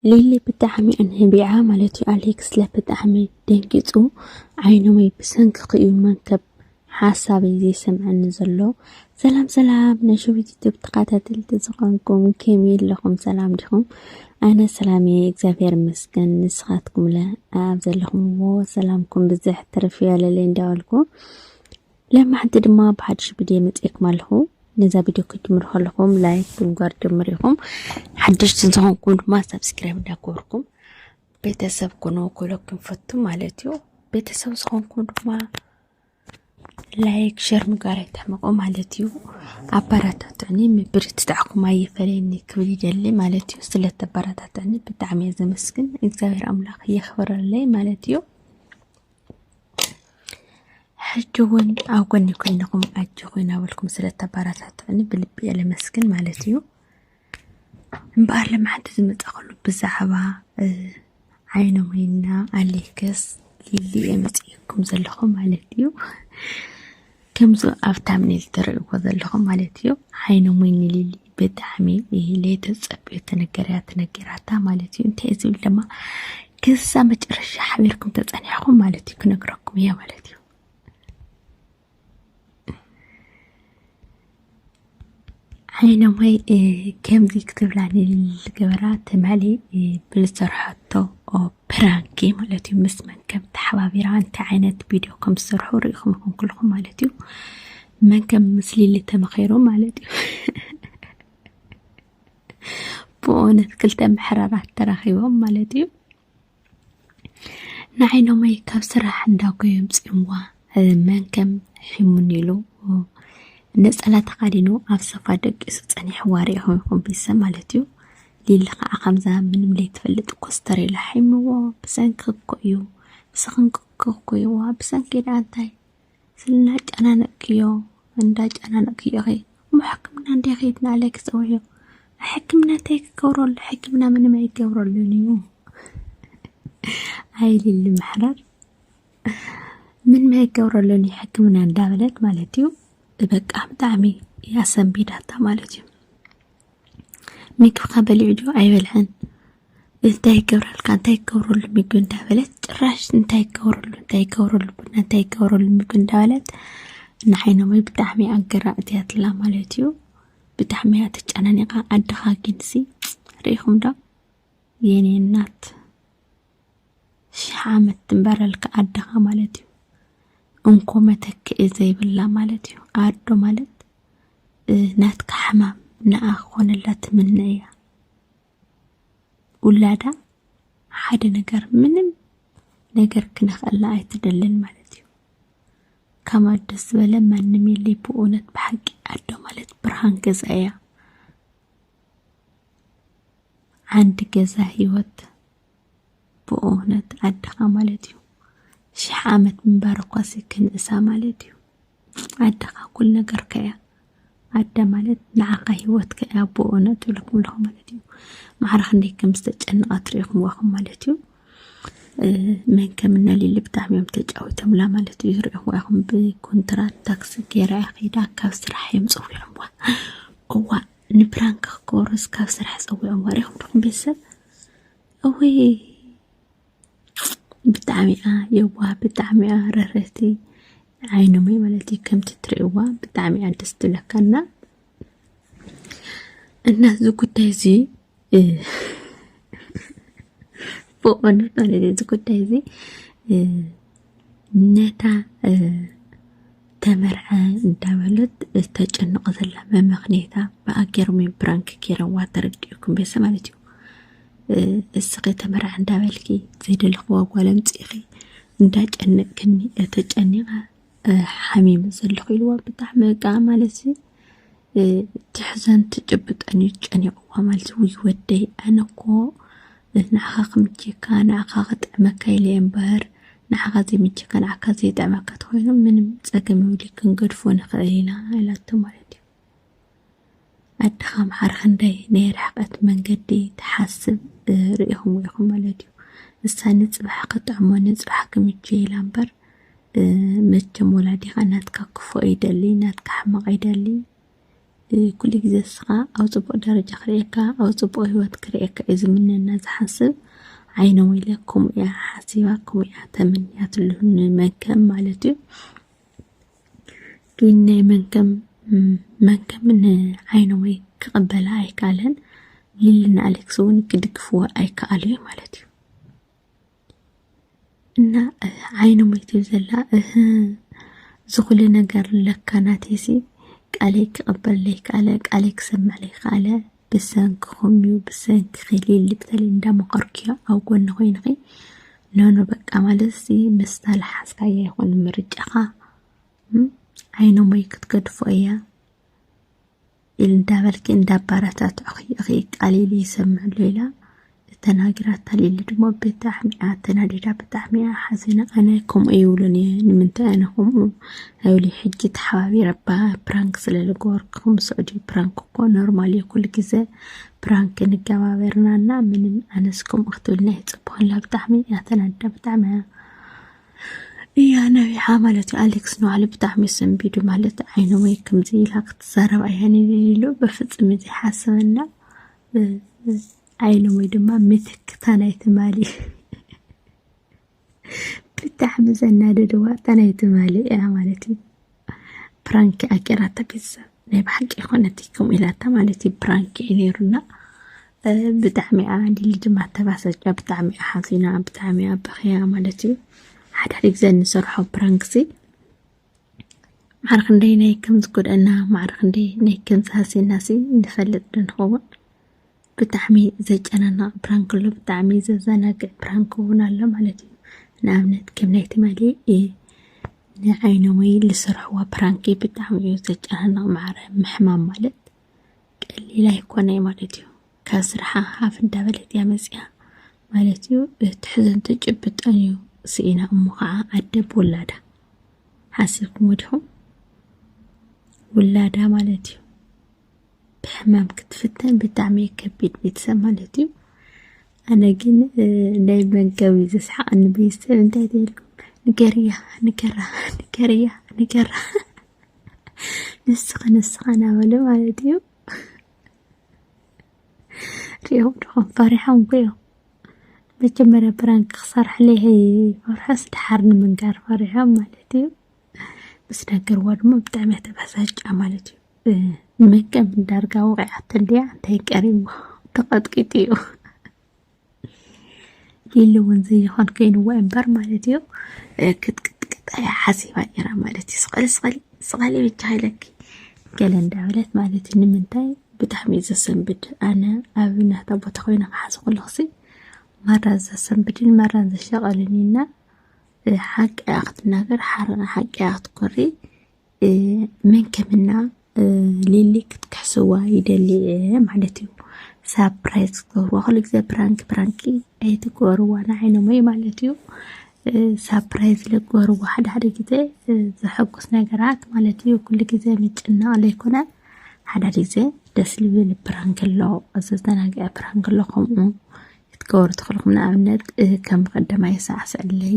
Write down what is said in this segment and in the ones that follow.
ሊሊ ብጣዕሚ ኣንህቢዓ ማለት እዩ ኣሌክስለ ብጣዕሚ ደንጊፁ ዓይኖመይ ብሰንክኺ እዩ መንከብ ሓሳበይ ዘይሰምዐኒ ዘሎ ሰላም ሰላም ናይ ሸዊት ዩቱብ ተኸታተልቲ ዝኾንኩም ከመይ ኣለኹም ሰላም ዲኹም ኣነ ሰላም እየ እግዚኣብሔር ይመስገን ንስኻትኩምለ ኣብ ዘለኹምዎ ሰላምኩም ብዝሕ ትርፍ ያለለ እንዳበልኩ ለማዕንቲ ድማ ብሓድሽ ቪድዮ መፅኤኩም ኣለኹ ነዛ ቪድዮ ክትጅምሩ ከለኹም ላይክ ብምግባር ጀምር ኢኹም ሓድሽቲ እንተኾንኩም ድማ ሳብስክራይብ እንዳገበርኩም ቤተሰብ ኩኑ ክብለኩም ፈቱ ማለት እዩ ቤተሰብ ዝኾንኩም ድማ ላይክ ሸር ምግባር ኣይትሕመቑ ማለት እዩ ኣበረታትዕኒ ምብርትታዕኩም ኣይፈለየኒ ክብል ይደሊ ማለት እዩ ስለተበረታትዕኒ ብጣዕሚ እየ ዘመስግን እግዚኣብሔር ኣምላኽ የኽብረለይ ማለት እዩ ሕጂ እውን ኣብ ጎኒ ኮይንኹም ኣጆኹ እናበልኩም ስለ እተበረታትዑኒ ብልቢ እየ ለመስግን ማለት እዩ እምበኣር ልምዓንቲ ዝመፃኸሉ ብዛዕባ ዓይነ ሞይና ኣሌክስ ሊሊ እየ መፅኢኩም ዘለኹ ማለት እዩ ከምዚ ኣብ ታምኔል ትርእይዎ ዘለኹም ማለት እዩ ዓይነ ሙይ ንሊሊ ብጣዕሚ ሌተ ፀብዮ ተነገርያ ተነገራታ ማለት እዩ እንታይ ዝብል ድማ ክሳ መጨረሻ ሓቢርኩም ተፀኒሕኹም ማለት እዩ ክነግረኩም እያ ማለት እዩ ዓይነማይ ከምዚ ክትብላኒ ዝገበራ ትማሊ ብዝሰርሐቶ ፕራንኪ ማለት እዩ ምስ መን ከም ተሓባቢራ እንታይ ዓይነት ቪድዮ ከም ዝሰርሑ ርኢኹም ይኹን ኩልኹም ማለት እዩ መን ከም ምስ ሊሊ ተመኺሩ ማለት እዩ ብእውነት ክልተ ምሕረራት ተራኺቦም ማለት እዩ ንዓይኖመይ ካብ ስራሕ እንዳጎዮም ጽምዋ መን ከም ሒሙን ኢሉ ነጸላ ተኻዲኑ ኣብ ሶፋ ደቂሱ ጸኒሕዋ ሪኢኹ ይኹን ቤተሰብ ማለት እዩ ሊሊ ከዓ ከምዛ ምንም ዘይትፈልጥ ኮስተር ኢላ ሒምዎ ብሰንኪ እኮ እዩ ብሰንኪ እኮ እዩዋ ብሰንኪ ደኣ እንታይ ስልናጨናነቅክዮ እንዳጨናነቅክዮ ኢኺ እሞ ሕክምና እንድያ ከይድና ኢለ ክፀውዕዮ ሕክምና እንታይ ክገብረሉ ሕክምና ምንም ኣይገብረሉን እዩ ኣይልሊ ምሕረር ምንም ኣይገብረሉን እዩ ሕክምና እንዳበለት ማለት እዩ በቃ ብጣዕሚ ያሰንቢዳታ ማለት እዩ ምግብኻ በሊዑ ድዩ ኣይበልዐን እንታይ ይገብረልካ እንታይ ይገብረሉ ምግቢ እንዳበለት ጭራሽ እንታይ ይገብረሉ እንታይ ይገብረሉ ቡና እንታይ ይገብረሉ ምግቢ እንዳበለት ንዓይኖመይ ብጣዕሚ ኣገራዕት እያ ትላ ማለት እዩ ብጣዕሚ እያ ተጨናኒቓ ኣድኻ ግንሲ ርኢኹም ዶ የኔ እናት ሽሕ ዓመት ትንበረልካ ኣደኻ ማለት እዩ። እንኮ መተክኢ ዘይብላ ማለት እዩ። ኣዶ ማለት ናትካ ሕማም ንኣ ክኾነላ ትምነ እያ። ውላዳ ሓደ ነገር ምንም ነገር ክነኽእላ ኣይትደልን ማለት እዩ። ካብ ኣደ ዝበለ ማንም የለይ ብእውነት ብሓቂ ኣዶ ማለት ብርሃን ገዛ እያ። ዓንዲ ገዛ ህይወት ብእውነት ዓድኻ ማለት እዩ ሽሕ ዓመት ምንባር እኳሲ ክንእሳ ማለት እዩ ዓድኻ ኩል ነገር ከያ ዓደ ማለት ንዓኻ ህይወት ከያ ብእውነት ብልኩም ለኹ ማለት እዩ ማዕረ ክንደይ ከም ዝተጨንቓ ትሪኢኹም ዋኹም ማለት እዩ መን ከም እነሊሊ ብጣዕሚ እዮም ተጫዊቶምላ ማለት እዩ ዝሪኢኹም ዋኹም ብኮንትራት ታክሲ ገይራ እያ ከይዳ ካብ ስራሕ እዮም ፀዊዖምዋ እዋ ንፕራንክ ክገብሩስ ካብ ስራሕ ፀዊዖም ወሪኹም ድኹም ቤተሰብ እወይ ብጣዕሚኣ የዋ ብጣዕሚኣ ረረቲ ዓይኖም ማለት እዩ ከምቲ እትርእይዋ ብጣዕሚኣ ደስ ትብለካና እና እዚ ጉዳይ እዚ ብቕንዱ ማለት እዚ ጉዳይ እዚ ነታ ተመርዐ እንዳበለት እተጨንቕ ዘላ መመኽንየታ ብኣገሮም እዮም ብራንክ ገይረዋ ተረዲኡኩም ቤሰ ማለት እዩ እስኺ ተመርዐ እንዳበልኪ ዘይደለኽዋ ጓል ኣምፂእኺ እንዳጨነቅክኒ ተጨኒቓ ሓሚመ ዘለኹ ኢልዋ ብጣዕሚ በቃ ማለት ትሕዘን ትጭብጠን እዩ ጨኒቕዋ ማለት ውይ ወደይ ኣነ እኮ ንዓኻ ክምችየካ ንዓኻ ክጥዕመካ ኢለ እምበር ንዓኻ ዘይምችየካ ንዓካ ዘይጥዕመካ ተኮይኑ ምንም ፀገም የብሉ ክንገድፎ ንኽእል ኢና ኢላቶ ማለት እዩ ኣድካ ኣምሓሩ ክንደይ ናይ ርሕቀት መንገዲ ትሓስብ ሪኢክሞ ኢኩም ማለት እዩ እሳ ንጽባሕ ክጥዕሞ ንጽባሕ ክምችዮ ኢላ እምበር መቸም ወላዲካ ናትካ ክፉእ ኣይደሊ ናትካ ሕማቅ ኣይደሊ ኩሉ ግዜ እስኻ ኣብ ጽቡቕ ደረጃ ክርእየካ ኣብ ጽቡቕ ህይወት ክርእየካ እዩ ዝምነና ዝሓስብ ዓይነ ወይለ ከምኡ እያ ሓሲባ ከምኡ እያ ተመንያትሉ ንመንከም ማለት እዩ ግን ናይ መንከም መንከም ንዓይነወይ ክቕበላ ኣይከኣለን ሊልና ኣሌክስ እውን ክድግፍዎ ኣይከኣሉ እዩ ማለት እዩ እና ዓይነወይ ትብል ዘላ እህ ዝኹሉ ነገር ለካ ናቴሲ ቃለይ ክቕበል ዘይከኣለ ቃለይ ክሰምዕ ዘይከኣለ ብሰንክኹም እዩ ብሰንክኺ ሊሊ ብተለይ እንዳመኸርክዮ ኣብ ጎኒ ኮይንኺ ኖኖ በቃ ማለት ሲ ምስታ ልሓዝካያ ይኹን ምርጫኻ ዓይኖመይ ክትገድፎ እያ ኢል እንዳበልኪ እንዳባረታትዕኺ እኺ ቃሊሉ ይሰምዕ ኣሎ ኢላ ተናጊራ ተሊሊ ድማ ብጣዕሚ እያ ተናዲዳ ብጣዕሚ እያ ሓዚና ኣነ ከምኡ ይብሉን እየ ንምንታይ ኣነ ከምኡ ኣይብሉ ሕጂ ተሓባቢረ ፕራንክ ስለ ዝገበርኩም ስዑዲ ፕራንክ እኮ ኖርማል እዩ ኩሉ ግዘ ፕራንክ ንገባበርና እና ምንም ኣነስ ከምኡ ክትብልና ይፅበኩላ ብጣዕሚ እያ ተናዲዳ ብጣዕሚ እያ እያ ነቢሓ ማለት እዩ ኣሌክስ ንባዕሉ ብጣዕሚ ሰንቢዱ ማለት ዓይነ ወይ ከምዚ ኢላ ክትዛረብ ኣያ ንሉ በፍፅም እዚ ሓሰበና ኣይነ ወይ ድማ ምትክታ ናይ ትማሊ ብጣዕሚ ዘናደደ ዋጣ ናይ ትማሊ እያ ማለት እዩ ፕራንክ ኣኬራታ ቤተሰብ ናይ ብሓቂ ይኮነት ከም ኢላታ ማለት እዩ ፕራንክ እዩ ነይሩና ብጣዕሚ እያ ሊሊ ድማ ተባሰጫ ብጣዕሚ እያ ሓዚና ብጣዕሚ እያ በኽያ ማለት እዩ ሓድሕድ ግዜ ንሰርሖ ፕራንክሲ ማዕረ ክንደይ ናይ ከም ዝጎድኣና ማዕረ ክንደይ ናይ ከም ዝሃስየናሲ ንፈልጥ ዶ ንኸውን? ብጣዕሚ ዘጨናንቕ ፕራንክ ኣሎ ብጣዕሚ ዘዘናግዕ ፕራንክ እውን ኣሎ ማለት እዩ። ንኣብነት ከም ናይ ትማሊ ንዓይነመይ ዝሰርሕዋ ፕራንኪ ብጣዕሚ እዩ ዘጨናንቕ ማዕረ ምሕማም ማለት ቀሊል ኣይኮነይ ማለት እዩ ካብ ስርሓ ሃፍ እንዳበለት እያ መፅያ ማለት እዩ ትሕዝን ትጭብጠን እዩ ስኢና እሞ ከዓ ኣደብ ውላዳ ሓሲብኩም ወዲኹም ውላዳ ማለት እዩ ብሕማም ክትፍተን ብጣዕሚ ከቢድ ቤተሰብ ማለት እዩ ኣነ ግን ናይ መንገቢ ዘስሓቐኒ ቤተሰብ እንታይ ትብልኩም ንገርያ ንገራ ንገርያ ንገራ ንስኺ ንስኻ ናበለ ማለት እዩ ሪኦም ድኾም ፈሪሖም ኮ እዮም መጀመርያ ብራንክ ክሰርሕለይ ፈርሖስ ድሓር ንምንጋር ፈሪሖም ማለት እዩ ምስ ነገርዋ ድማ ብጣዕሚ እያ ተበሳጫ ማለት እዩ ንመቀም እንዳርጋ ወቂዓቶ እንዲያ እንታይ ቀሪቡ ተቐጥቂጡ እዩ ኢሉ እውን ዘይኾን ኮይኑዎ እምበር ማለት እዩ ክትቅጥቅጣ እያ ሓሲባ ነይራ ማለት እዩ ስቐሊ ስቐሊ ስቐሊ ብቻ ሃይለኪ ገለ እንዳበለት ማለት እዩ ንምንታይ ብጣዕሚ እዩ ዘሰንብድ ኣነ ኣብ ናታ ቦታ ኮይነ ክሓዝ ከለኹሲ ማራ ዘሰንብድን ማራን ዘሸቐልን እዩና ሓቂ እያ ክትናገር ሓቂ እያ ክትኮሪ መን ከምና ሊሊ ክትክሕስዋ ይደሊ ማለት እዩ ሳፕራይዝ ክትገብርዋ ኩሉ ግዜ ፕራንክ ፕራንክ ኣይትግበርዋ ንዓይኖም እዩ ማለት እዩ ሳፕራይዝ ልግበርዋ ሓደ ሓደ ግዜ ዘሐጉስ ነገራት ማለት እዩ ኩሉ ግዜ ምጭናቕ ዘይኮነ ሓደ ሓደ ግዜ ደስ ልብል ፕራንክ ኣሎ ዘዘናግዐ ፕራንክ ኣሎ ከምኡ ክትገብሩ ትኽእልኩም ንኣብነት ከም ቀደማይ ሳዕስዕለይ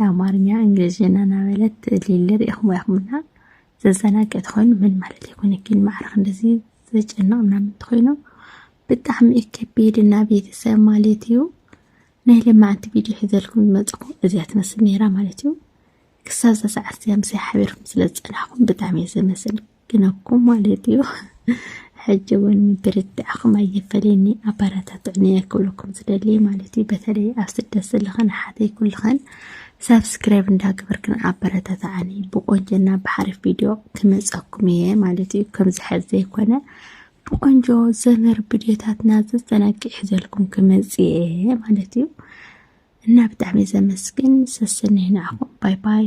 ኣማርኛ እንግሊዝኛ እናበለት ሊሊ ሪኢኹም ያኹምና ዘዘናገ ተኾይኑ ምን ማለት ይኮነኪን ማዕረኽ እንደዚ ዘጨንቕ ምናምን ተኾይኑ ብጣዕሚ እዩ ከቢድ እና ቤተሰብ ማለት እዩ ናይ ለማዓንቲ ቪድዮ ሒዘልኩም ዝመፅኹ እዚያ ትመስል ነይራ ማለት እዩ ክሳብ እዛ ሰዓት እዚኣ ምሳይ ሓቢርኩም ስለ ዝፀናሕኩም ብጣዕሚ እየ ዘመስል ግን እኮ ማለት እዩ ሕጂ እውን ምብርትዕኹም ኣየፈለየኒ ኣበረታትዑኒ እየ ክብለኩም ዝደሊ ማለት እዩ በተለይ ኣብ ስደት ዘለኽን ኣሓተይ ኩልኽን ሳብስክራይብ እንዳገበርክን ኣበረታትዓኒ ብቆንጆና ብሓሪፍ ቪድዮ ክመፀኩም እየ ማለት እዩ ከምዚ ሕዚ ዘይኮነ ብቆንጆ ዘመር ቪድዮታትና ዘዘናግዕ ሒዘልኩም ክመፅ እየ ማለት እዩ እና ብጣዕሚ ዘመስግን ሰሰነይ ንዓኹም ባይ ባይ